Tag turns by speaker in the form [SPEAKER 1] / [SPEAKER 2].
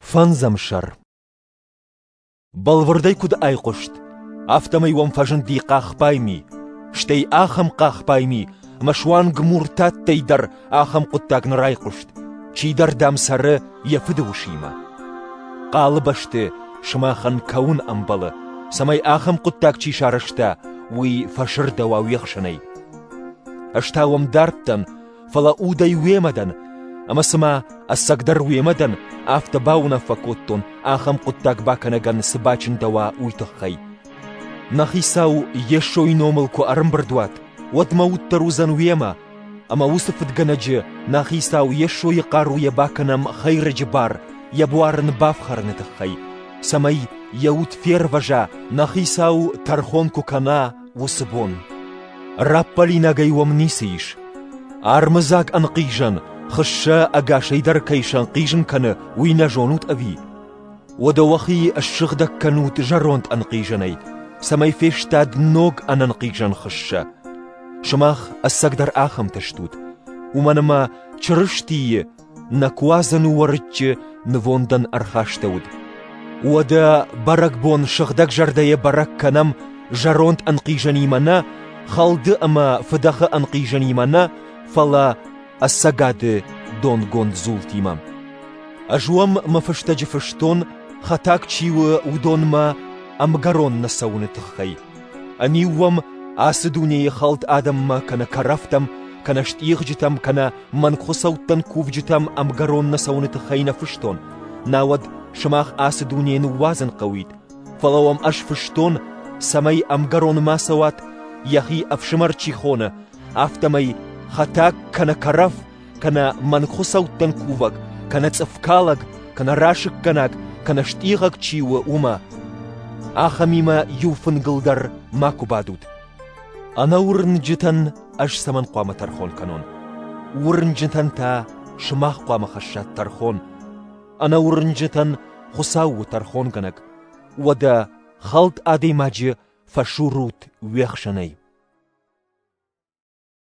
[SPEAKER 1] Фӕндзӕм сӕр Бӕлвырдӕй куыд айхъуыст, афтӕмӕй уӕм фӕзынди хъахбайми, стӕй ахӕм хъахбайми, ӕмӕ суанг муртаттӕй дӕр ахӕм хъуыддаг нӕ райхъуыст, чидӕр, дам, цӕры йӕ фыды усимӕ. Хъалы бӕсты сымахӕн кӕуын ӕмбӕлы, цӕмӕй ахӕм хъуыддаг чи сарӕзта, уый фӕсырдӕуа уе хсӕнӕй. Ӕз та уӕм дӕрдтӕн, фӕлӕ удӕй уемӕ дӕн, ӕмӕ цымӕ, ӕцӕгдӕр уемӕ дӕн, афтӕ бауынаффӕ кодтон, ахӕм хъуыддаг бакӕнӕгӕн цы бачындӕуа, уый тыххӕй. Нӕ хицау Йесойы номыл куы ӕрӕмбырд уат, уӕд мӕ уд дӕр уыдзӕн уемӕ, ӕмӕ уыцы фыдгӕнӕджы, нӕ хицау Йесойы хъаруйӕ бакӕнӕм Хӕйрӕджы бар йӕ буар ын бафхӕрыны тыххӕй, цӕмӕй йӕ уд фервӕза, нӕ хицау тӕрхон куы кӕна, уыцы бон. Раппӕлинагӕй уӕм ницы ис. Армыдзаг ӕнхъизӕн, хыссӕ ӕгасӕй дӕр кӕй сӕнхъизын кӕны, уый нӕ зонут ӕви? Уӕдӕ уӕхи ссыгъдӕг кӕнут зӕронд ӕнхъизӕнӕй, цӕмӕй фестад ног ӕнӕнхъизӕн хыссӕ. Сымах ӕцӕгдӕр ахӕмтӕ стут, уымӕн ӕмӕ Чырыстийы Нӕ куадзӕн уӕрыччы нывондӕн ӕрхастӕуыд. Уӕдӕ бӕрӕгбон сыгъдӕгзӕрдӕйӕ бӕрӕг кӕнӕм зӕронд ӕнхъизӕнимӕ нӕ, хӕлды ӕмӕ фыдӕхы ӕнхъизӕнимӕ нӕ, фӕлӕ ӕцӕгады донгонд дзултимӕ. Ӕз уӕм мӕ фыстӕджы фыстон, хӕтаг чи у, уыдонмӕ ӕмгӕрон нӕ цӕуыны тыххӕй. Ӕниу уӕм ацы дунейы хӕлд адӕммӕ кӕнӕ кӕрӕфтӕм, кӕнӕ стъигъджытӕм, кӕнӕ мӕнгхуыцӕуттӕн кувджытӕм ӕмгӕрон нӕ цӕуыны тыххӕй нӕ фыстон, науӕд сымах ацы дунейы ныууадзын хъӕуид, фӕлӕ уӕм ӕз фыстон, цӕмӕй ӕмгӕрон ма цӕуат, йӕхи ӕфсымӕр чи хоны, афтӕмӕй хӕтӕг кӕнӕ кӕрӕф кӕнӕ мӕнгхуыцӕуттӕн кувӕг, кӕнӕ цъыфкалӕг, кӕнӕ расыггӕнаг, кӕнӕ стъигъӕг чи у, уымӕ. Ахӕмимӕ иу фынгыл дӕр макуы бадут. Ӕнӕуырнджытӕн ӕз цӕмӕн хъуамӕ тӕрхон кӕнон? Уырнджытӕн та сымах хъуамӕ хӕссат тӕрхон. Ӕнӕуырнджытӕн Хуыцау у тӕрхонгӕнӕг. Уӕдӕ хӕлд адӕймаджы фӕсурут уе хсӕнӕй.